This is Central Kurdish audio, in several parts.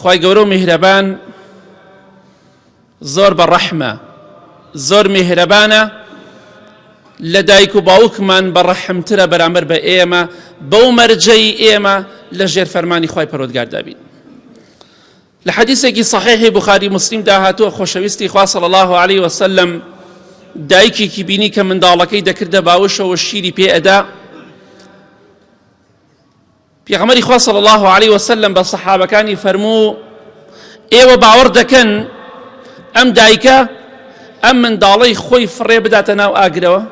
خوای گەورە و میهرەبان زۆر بە ڕەحمە زۆر میهرەبانە لە دایک و باوکمان بە ڕەحمترە بەرامبەر بە ئێمە بەو مەرجەی ئێمە لە ژێر فەرمانی خی پەرۆدگاردابین لە حەدیسێکی صحیحی بخاری مسلیم داهاتوە خۆشەویستی خوا صلی الله عليه وسلم دایکێکی بینی کە منداڵەکەی دەکردە باوشەوە شیری پێ ئەدا پێغەمبەری خوا صلی الله علیه و سلم بە سەحابەکانی فەرموو ئێوە باوەڕ دەکەن ئەم دایکە ئەم منداڵەی خۆی فڕێ بداتە ناو ئاگرەوە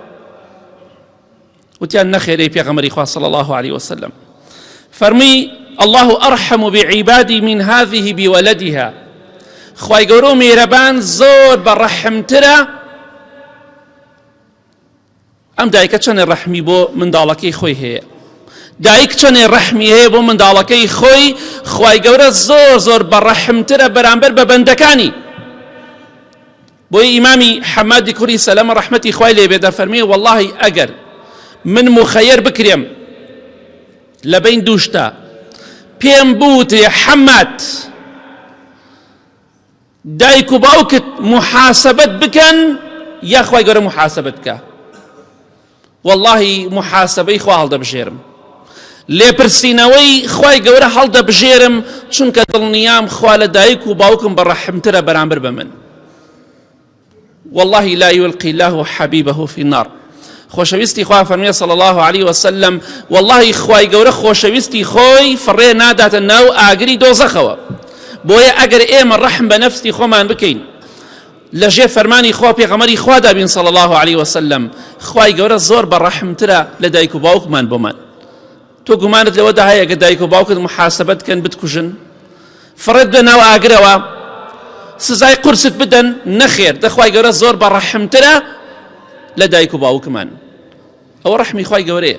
وتیان نەخێرەی پێغەمبەری خوا صلی الله علیه و سلم فەرمی الله ارحم بعبادی من هذه بولدها خوای گەورە و میرەبان زۆر بە ڕەحمترە ئەم دایکە چەنێ ڕەحمی بۆ منداڵەکەی خۆی هەیە دایک چەنێ ڕەحمی هەیە بۆ منداڵەکەی خۆی خی گەورە زۆر زۆر بە ڕەحمترە بەرامبەر بە بەندەکانی بۆی ئیمامی حەمادی کوری سەلەمە ڕەحمەتی خی لێبێ دەفەرمیێ واللهی ئەگەر من مخەیەر بکرێم لە بین دووشتا پێم بوتێ حەمات دایک و باوکت محاسبەت بکەن یا خوای گەورە محاسبەت بکە واللهی محاسبەی خوا هەڵدەبژێرم لێپرسینەوەی خوای گەورە هەڵدەبژێرم چونکە دڵنیام خوا لە دایک و باوکم بەڕەحمترە بەرامبەر بە من واللە لا یلقی اللە حبیبە فی النار خۆشەویستی خوا فەرمیێ صلی الله عليه وسلم واللهی خوای گەورە خۆشەویستی خۆی فڕێ ناداتە ناو ئاگری دۆزەخەوە بۆیە ئەگەر ئێمە ڕەحم بە نەفستی خۆمان بکەین لە ژێر فەرمانی خوا پێغەمەری خوا دابین صلی الله عليه وسلم خوای گەورە زۆر بە ڕەحمترە لە دایک و باوکمان بۆمان تۆ گومانت لەوەدا هەیە کە دایک و باوکت محاسبەت کەن بتکوژن فڕێت بە ناو ئاگرەوە سزای قورست بدەن نەخێر دەخوای گەورە زۆر بە ڕەحمترە لە دایک و باوکمان ئەوە ڕەحمی خی گەورەیە